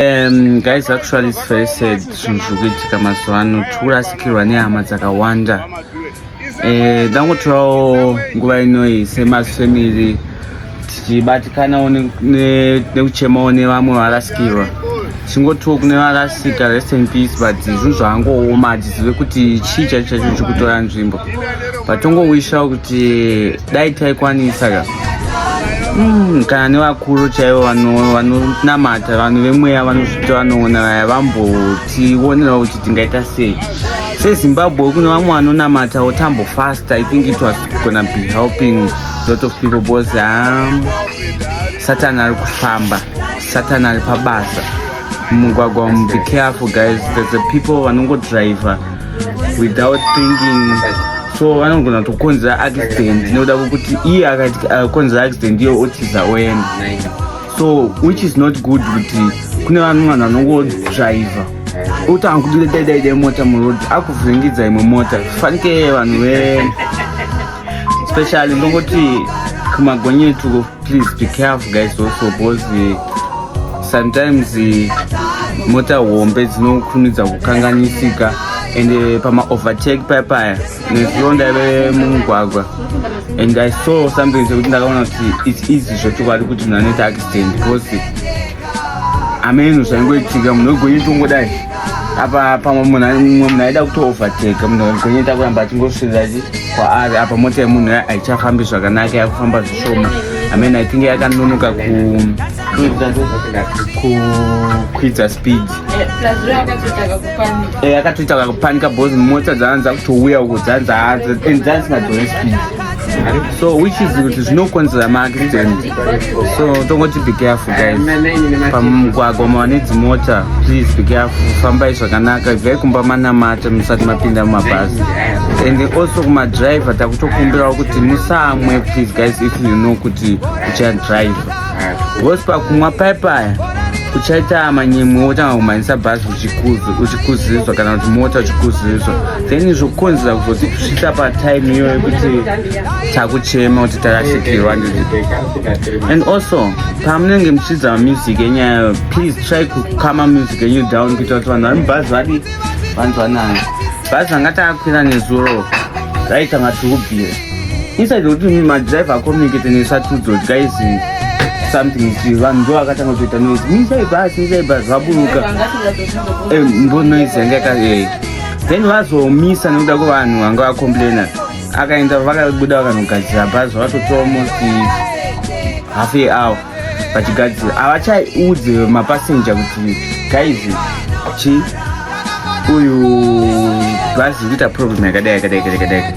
Um, guys actually it's very sad zvinhu zviri kuitika mazuva ano tiri kurasikirwa nehama dzakawanda eh, ndangotorawo nguva inoyi semafamily tichibatikanawo nekuchemawo nevamwe varasikirwa chingotiwo kune varasika rest in peace but zvinhu zvaangooma tizive kuti chii chaicho chaicho chiri kutora nzvimbo but tongowishawo kuti dai taikwanisa ka mm, kana nevakuru chaivo vanonamata vanhu vemweya vanozviti vanoona vaya vambotionerawo kuti tingaita sei sezimbabwe kune vamwe vanonamata wotambo fast i think it was gonna be helping lot of people because um, satani ari kufamba satani ari pabasa mumugwagwa umu be careful guys there's a people vanongodriver without thinking so vanogona tokonzera accident nekuda kwekuti iye akakonzera accident iyo otiza oenda so which is not good kuti kune vanhu vanhu vanongodriver otanga kuti ndedaidaidai mota muroad akuvhiringidza imwe mota fanike vanhu ve especially ndongoti kumagonyetwo please be careful guys also because eh, sometimes eh, mota hombe dzinokurumidza kukanganisika and eh, pama overtake paya paya nezuro ndaive mumugwagwa and i saw something sekuti ndakaona kuti its easy zvechokwadi kuti munhu anoita accident because ameno zvangoitika munhu wegwenye tongodai apa pamwe munhu mumwe munhu aida kutoovateka munhu wegwenye ta kuramba achingosvirira kwaari apa mota yemunhu haichafambi zvakanaka yakufamba zvishoma ameno aitinge yakanonoka kukwidza speed eh, yakatoita kakupanika bcause mota dzaanza kutouya uko dzanza and dzanzi ngadzone speed so which is kuti zvinokonzera maaccident so tongoti be careful guys pamugwagwa mawane dzimota please be careful fambai zvakanaka ibvai kumba manamata musati mapinda mumabhazi and also kumadriver takutokumbirawo kuti musamwe please guys if you know kuti uchadriver Boss pakumwa paye paya uchaita manyemwe wotanga kumhanyisa bhazi uchikuzirizwa kana kuti mota uchikuzirizwa then zvokukonzera kuzoti kusvika patime iyoyo yekuti takuchema kuti tarashikirwa and also pamunenge muchiridza mamusic enyayo please try kukama music enyu down kuita kuti vanhu vari mubhazi vadi vanzwanana bhazi vanga takakwira nezuro raitanga tikubvira Inside kuti madriver acommunicate nesatudzo guys something is vanhu ndo vakatanga kutoita noise misai bus misai bus vaburuka eh, mbo noise yanga yaka eh. then vazomisa nekuda kwevanhu vanga vacomplaina akaenda vakabuda vakanogadzira bhazi vakatotora almost half a hour vachigadzira havachaudze mapasenja kuti guys chi uyu bhazi kuita problem yakadai yakadai yakadai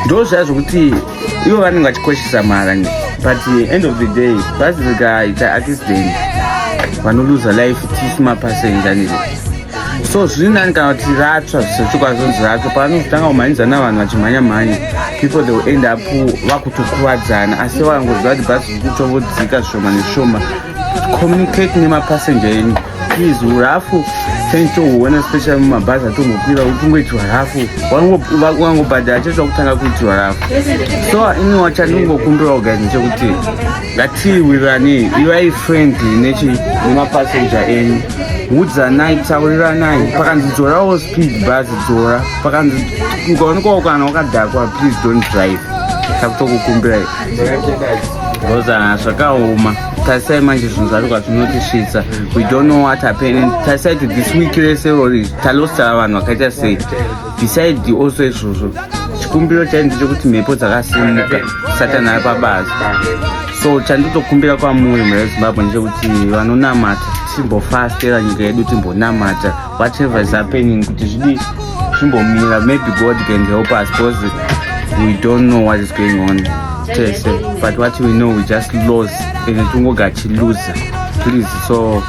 ndo zvaya zvokuti ivo vanenge vachikoshesa mara but end of the day bhazi rikaita accident vanoluza life tisi mapasenja nizvo so zviri nani kana kuti ratsva zvisatsvukwa zvonzi ratsva paanozotanga kumhanyidzana vanhu vachimhanya mhanya people they will end up vakutokuvadzana asi vakangoziva kuti bhazi rikutovodzika zvishoma nezvishoma communicate nemapassenger enu please hurafu change tohuona special mumabhazi atombokwira ukungoitirwa rafu wangobhadhara chete wakutanga kuitirwa rafu so ini wachandingokumbirawo guys ndechekuti ngatiwirirane ivai friendly nechi nemapassenger enyu udzanai tauriranai pakanzi dzorawo speed bhazi dzora pakanzi ukaonekwawo kana wakadhakwa please don't drive takutokukumbirai rozana zvakaoma tarisai manje zvinhu zvacho kwazvinotisvitsa we don't know what happened tarisai to this week rese rori talostara vanhu vakaita sei besides also izvozvo chikumbiro chai ndechekuti mhepo dzakasimuka satani ari pabasa so chanditokumbira kwamuri mhera yezimbabwe ndechekuti vanonamata timbofastera nyika yedu timbonamata whatever is happening kuti zvidii zvimbomira maybe god can help us because we don't know what is going on tese but what we know we just lose ende tingogachiluza please so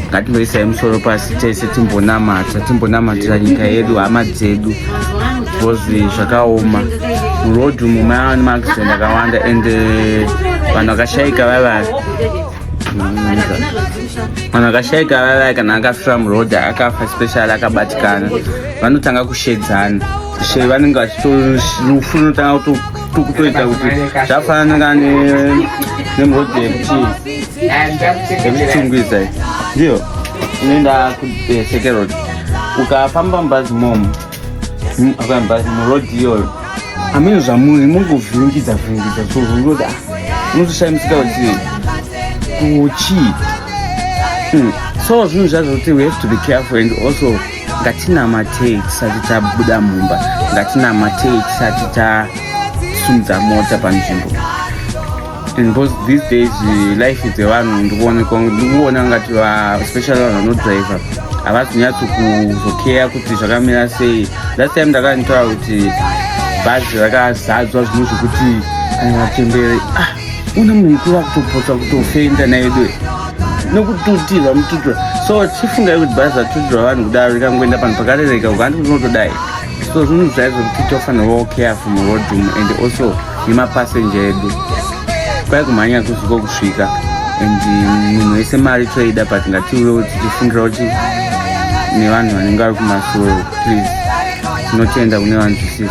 ngatingoisai musoro pasi tese timbonamata timbonamatira nyika yedu hama dzedu bcoz zvakaoma muroad umu maava nemaaccident akawanda and eh, vanhu vakashaika vavaya vanhu vakashaika vavaya kana akafira muroad akafa special akabatikana vanotanga kushedzana she vanenge vachitorufu rinotanga kuto kutoita kuti zvafanana nemhodzi yekuti yekutsungwiza ndiyo inoenda kusekerod eh, ukafamba mubhazi momo mubhazi murod iyoyo amene zvamuri mungovhiringidza vhiringidza zvounoti unotoshaimisika kuti kuchii hmm. so zvinhu zvazvo kuti we have to be careful and also ngatinamatei tisati tabuda mumba ngatinamatei tisati tasimudza mota panzvimbo because these days life dzevanhu ndikuona ngati especially vanhu vanodriver havazi kunyatso kuzokeya kuti zvakamira sei last time ndakanitora kuti bhazi rakazadzwa zvinhu zvekuti kana matembere ah. Una munhu mukuru akutopotsa kutofenda naedu nokututirwa mututirwa so chifungai kuti bhazi ratutirwa vanhu kudaro rikangoenda panhu pakarereka ukanti kuti unotodai so zvinhu zvaizvo kuti tofanirwa careful muroad umu and also nemapassenje edu kwai kumhanya kusiko kusvika and munhu wese mari toida but ngatiuyewo tichifungira kuti nevanhu vanenge vari kumasoro please tinotenda kune vanzwisisi